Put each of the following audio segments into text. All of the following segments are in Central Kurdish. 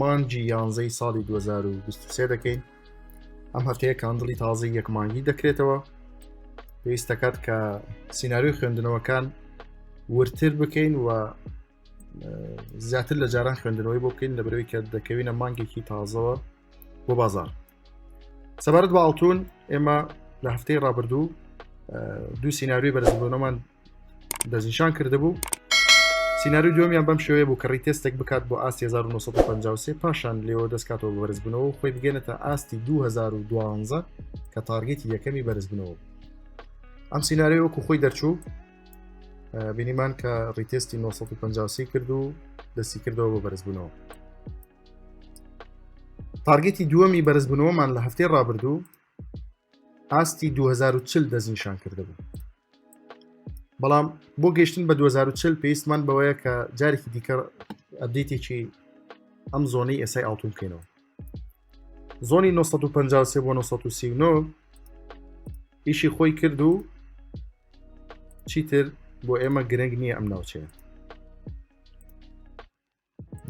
مانگی یانزەی ساڵی دوو هەزار و بیست و سێ دەکەین ئەم هەفتەیە کاندڵی تازەی یەک مانگی دەکرێتەوە پێویست دەکات کە سینناریۆی خوێندنەوەکان ورتر بکەین و زیاتر لە جاران خوێندنەوەی بۆ بکەین لە برەوەی کە دەکەوینە مانگێکی تازەوە بۆ بازار سەبارەت بە ئاڵتون ئێمە لە هەفتەی ڕابردوو دوو سینناوی بەرزبوونەمان دەستنیشان کردبوو سینناوی دومیان بەم شێوەیە بوو کەڕی تێستێک بکات بۆ ئاست 1953 پاشان لێەوە دەستکاتەوە بەرزبنەوە خۆی بگەێنێتە ئاستی 2012 کە تارگێتی یەکەمی بەرزبنەوە ئەم سینناوی وەکو خۆی دەرچوو بینیمان کە ڕیتێستی 1950 کرد و دەستی کردەوە بۆ بەرزبوونەوە تارگەتی دووەمی بەرزبوونەوەمان لە هەفتەی ڕابردوو ئاستی 2040 دەستنیشان کردبوو بەڵام بۆ گەشتن بە 2040 پێویستمان بەوەیە کە جارێکی دیکە ئەبدیتێکی ئەم زۆنی ئێسای ئاڵتون بکەینەوە زۆنی 1950 بۆ 1939 ئیشی خۆی کرد و چیتر بۆ ئێمە گرنگ نییە ئەم ناوچەیە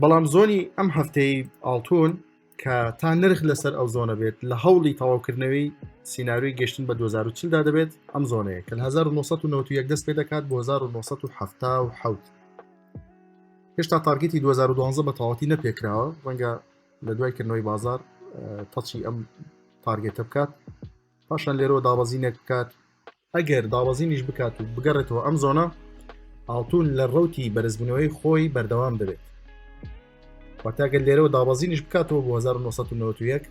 بەڵام زۆنی ئەم هەفتەی ئاڵتون کە تا نرخ لەسەر ئەو زۆنە بێت لە هەوڵی تەواوکردنەوەی سینناروی گەشتن بە 2040دا دەبێت ئەم زۆنەیە کە 1991 دەست پێ دەکات بۆ 1970 هێشتا تارگەتی 2012 بە تەواتی نەپێکراوە ڕەنگە لە دوای کردنەوەی بازار تەچی ئەم تارگێتە بکات پاشان لێرەوە دابەزینێک بکات ئەگەر دابەزینیش بکات و بگەڕێتەوە ئەم زۆنە ئاڵتون لە ڕوتی بەرزبوونەوەی خۆی بەردەوام دەبێت واتاگەر لێرەوە دابەزینیش بکاتەوە بۆ 1991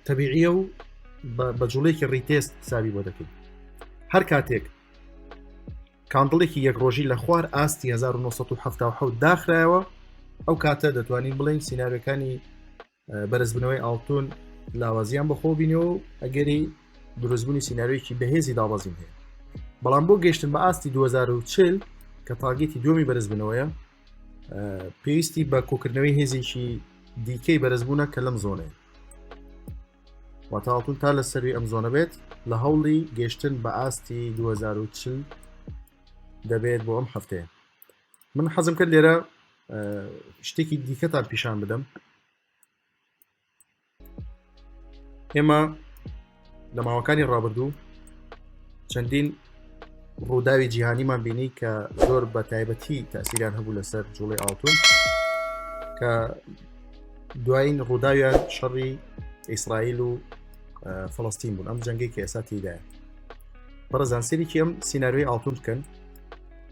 تەبیعە و بە جوڵێکی ڕیتێست ساوی بۆ دەکەین هەر کاتێک کاندڵێکی یەک ڕۆژی لە خوار ئاستی 1970 داخرایەوە ئەو کاتە دەتوانین بڵێن سینناەکانی بەرزبنەوەی ئاڵتون لاوازیان بەخۆ بینەوە و ئەگەری دروستبوونی سینناوێکی بەهێزی دابەزین هەیە بەڵام بۆ گەشتن بە ئاستی 2040 کە تاگەتی دومی بەرزبنەوەیە پێویستی بە کۆکردنەوەی هێزێکی دیکەی بەرزبوونە کە لەم زۆنەیە واتاڵتون تا لە سەروی ئەم زۆنە بێت لە هەوڵی گەشتن بە ئاستی 2040 دەبێت بۆ ئەم هەفتەیە من حەزم کرد لێرە شتێکی دیکەتان پیشان بدەم ئێمە لە ماوەکانی ڕابردوو چەندین ڕووداوی جیهانیمان بینی کە زۆر بە تایبەتی تاسیریان هەبوو لەسەر جوڵی ئاڵتون کە دوایین ڕووداویان شەڕی ئیسرائیل و فلستین بوون ئەم جەنگێکی ئێستا تیدایە بەڕزانسەرێکی ئەم سینناروی ئاڵتون بکەن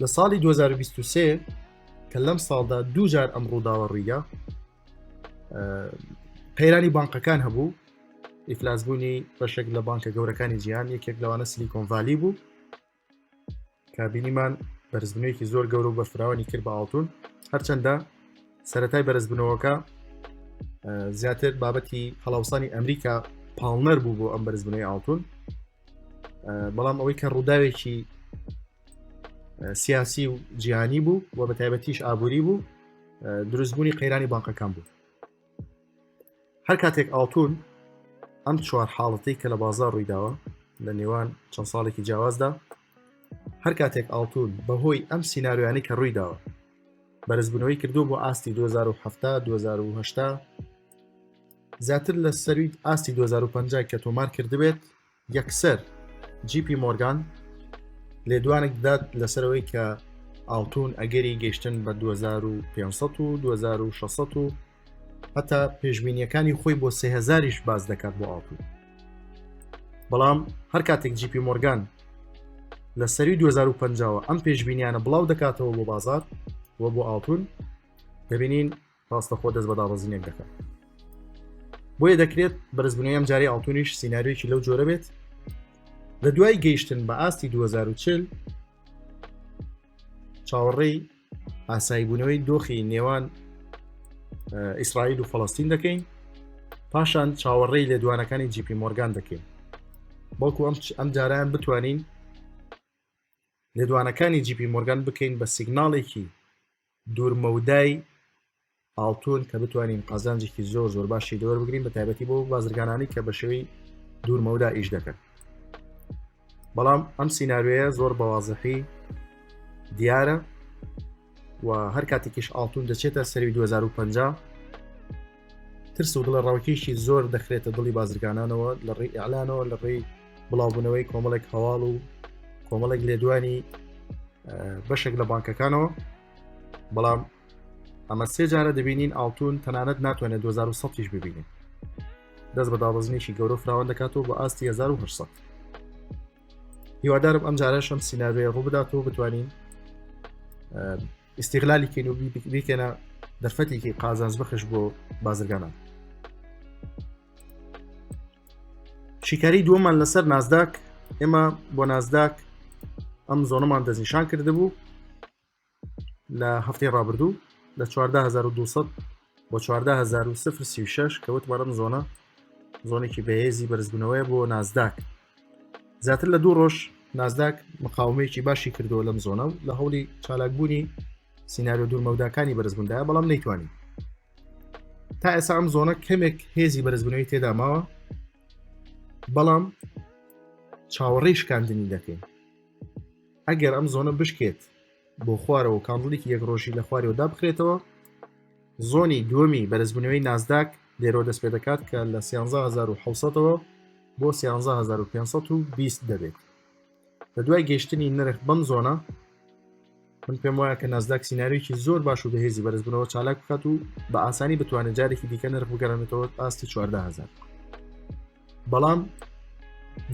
لە ساڵی 2023 کە لەم ساڵدا دوو جار ئەم ڕووداوە ڕیگا قەیرانی بانقەکان هەبوو ئیفلاسبوونی بەشێک لە بانکە گەورەکانی جیان یەکێک لەوانە سلیکۆنڤالی بوو کابینیمان بەرزبنێکی زۆر گەورە و بەفراوانی کرد بە ئاڵتون هەرچەندە سەتای بەرزبنەوەکە زیاتر بابەتی هەڵاوسانی ئەمریکا پاڵنەر بوو بۆ ئەم بەرزبنەی ئاڵتون بەڵام ئەوەی کە ڕووداوێکی سیاسی و جیهانی بوو و بە تایبەتیش ئابووری بوو دروستبوونی قەیرانی بانقەکان بوو هەر کاتێک ئاڵتون ئەم چوار حاڵەتی کە لە بازار ڕوویداوە لە نێوان چەند ساڵێکی جیاوازدا هەر کاتێک ئاڵتون بەهۆی ئەم سینناریانی کە ڕوویداوە بەرزبوونەوەی کردو بۆ ئاستی 2007 2010 زیاتر لە سەرویت ئاستی 2050 کە تۆمار کردبێت یەکسەر جی پی مۆرگان لێدوانێک دەدات لەسەرەوەی کە ئاڵتون ئەگەری گەشتن بە 2500 و 2600 و هەتا پێشببینیەکانی خۆی بۆ سهزاریش باز دەکات بۆ ئاڵتون بەڵام هەر کاتێک جی پی مۆرگان لە سەری 2050ەوە ئەم پێشببینیانە بڵاو دەکاتەوە بۆ بازار و بۆ ئاڵتون دەبینین ڕاستەخۆ دەست بە دابەزینێک دەکات بۆیە دەکرێت بەرزبوونەوەی ئەم جاری ئاڵتونیش سینناریوێکی لەو جۆرە بێت لە دوای گەیشتن بە ئاستی 2040 چاوەڕێی ئاساییبوونەوەی دۆخی نێوان ئیسرائیل و فەڵستین دەکەین پاشان چاوەڕێی لێدوانەکانی جیپی مۆرگان دەکەین بەڵکو ئەم ئەم جاران بتوانین لێدوانەکانی جیپی مۆرگان بکەین بە سیگناڵێکی دوورمەودای ئاڵتون کە بتوانین قازانجێکی زۆر زۆر باشی دەوەر بگرین بە تایبەتی بۆ بازرگانانی کە بە شێوەی دوورمەودا ئیش دەکەن بەڵام ئەم سینناوێە زۆر بەوازەحی دیارە و هەر کاتێکیش ئاڵتون دەچێتە سەری 2050 ترس و دڵە ڕاوکێشی زۆر دەخرێتە دڵی بازرگانانەوە لە ڕێی ئەلانەوە لە ڕێی بڵاوبوونەوەی کۆمەڵێک هەواڵ و کۆمەڵێک لێدوانی بەشێک لە بانکەکانەوە بەڵام ئەمە سێ جارە دەبینین ئاڵتون تەنانەت ناتوانێت 2010 ببینێت دەست بە دابەزنیشی گەورە فراوان دەکاتەوە بە ئاستی 1970 هیوادارم ئەم جارەشم سینناوێ ڕوو بداتەوە بتوانین ئیسیغلالی کەین و بیکەنە دەرفەتێکی قازانز بخش بۆ بازرگانان شیکاری دووەمان لەسەر نازداک ئێمە بۆ نازداک ئەم زۆنەمان دەستنیشان کردبوو لە هەفتەی ڕابردوو لە 14200 بۆ چواردە هزار و سفر سی و شەش کە وتمانم زۆنە زۆنێکی بەهێزی بەرزبوونەوەی بۆ نازداک زیاتر لە دوو ڕۆژ نازداک مقاومەیەکی باشی کردووە لەم زۆنە و لە هەوڵی چالاکبوونی سینناریۆ دوورمەوداکانی بەرزبووندایە بەڵام نەیتوانین تا ئێسا ئەم زۆنە کەمێک هێزی بەرزبوونەوەی تێدا ماوە بەڵام چاوەڕێی شکاندنی دەکەین ئەگەر ئەم زۆنە بشکێت بۆ خوارەوە کاندڵێکی یەک ڕۆژی لە خوارەوە دابخرێتەوە زۆنی دووەمی بەرزبوونەوەی نازداک لێرەوە دەست پێ دەکات کە لە 16ەوە بۆ 1520 دەبێت لە دوای گەشتنی نرخ بەم زۆنە من پێم وایە کە نازداک سینناریوکی زۆر باش و بەهێزی بەرزبوونەوە چالاک بکات و بە ئاسانی بتوانێت جارێکی دیکە نرخ بگەرانێتەوە ئاستی 14000 بەڵام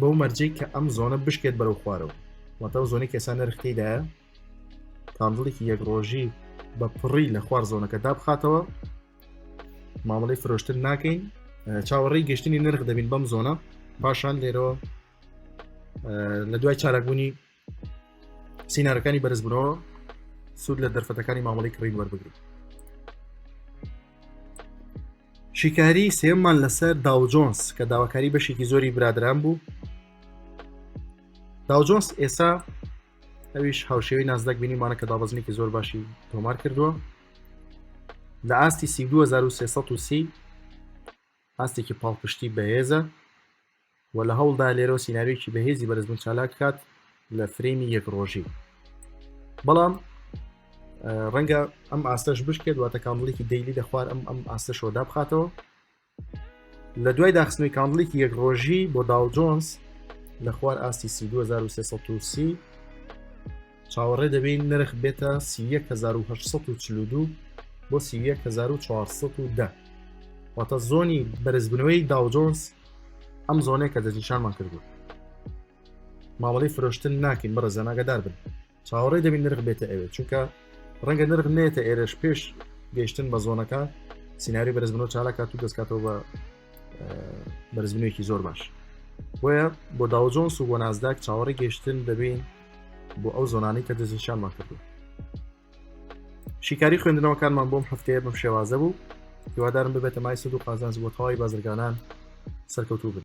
بەو مەرجەی کە ئەم زۆنە بشکێت بەرەو خوارەوە واتە زۆنی کەسا نرختیدایە کاندڵێکی یەک ڕۆژی بە پڕی لە خوار زۆنەکە دابخاتەوە مامەڵی فرۆشتن ناکەین چاوەڕێی گەشتنی نرخ دەبین بەم زۆنە پاشان لێرەوە لە دوای چالاکبوونی سینارەکانی بەرزبوونەوە سوود لە دەرفەتەکانی مامەڵی کڕین وەربگریت شیکاری سێمان لەسەر داوجۆنس کە داواکاری بەشێکی زۆری برادران بوو داوجۆنس ئێسا ئەویش هاوشێوی نازدەک بینیمانە کە دابەزنێکی زۆر باشی تۆمار کردووە لە ئاستی 2330 ئاستێکی پاڵپشتی بەهێزە و لە هەوڵدایە لێرەوە سیناریۆکی بەهێزی بەرزبوون چالاک بکات لە فرەیمی یەک ڕۆژی بەڵام ڕەنگە ئەم ئاستەش بشکێت واتە کامڵێکی دەیلی لە خوار ئەم ئەم ئاستە شۆدا بخاتەوە لە دوای داخستنەوەی کامڵێکی یەک ڕۆژی بۆ داو جۆنس لە خوار ئاستی 2330 چاوەڕێ دەبین نرخ بێتە 1940 بۆ 1940 واتە زۆنی بەرزبنەوەی داوجۆنس ئەم زۆنێک کە دەستنیشانمان کردو مامەڵی فرۆشتن ناکەین بە ڕزانناگەدار بن چاوەڕێ دەبین نرخ بێتە ئەوێت چونکە ڕەنگە نرخ نێتە ئێرش پێش گەشتن بە زۆنەکە سنااری بەرزبنەوە چالاکات و دەستکاتەوە بە بەرزبنێکی زۆر باش بۆیە بۆ داوجۆنس و بۆ نازداک چاوەڕی گەشتن دەبین بۆ ئەو زۆنانی کە دەستنیشانمان کردو شیکاری خوێندنەوەکانمان بۆم هەفتەیە بەم شێوازە بوو هیوادارم ببێتە مای سود و قازانج بۆ تەواوی بازرگانان سەرکەوتوو بن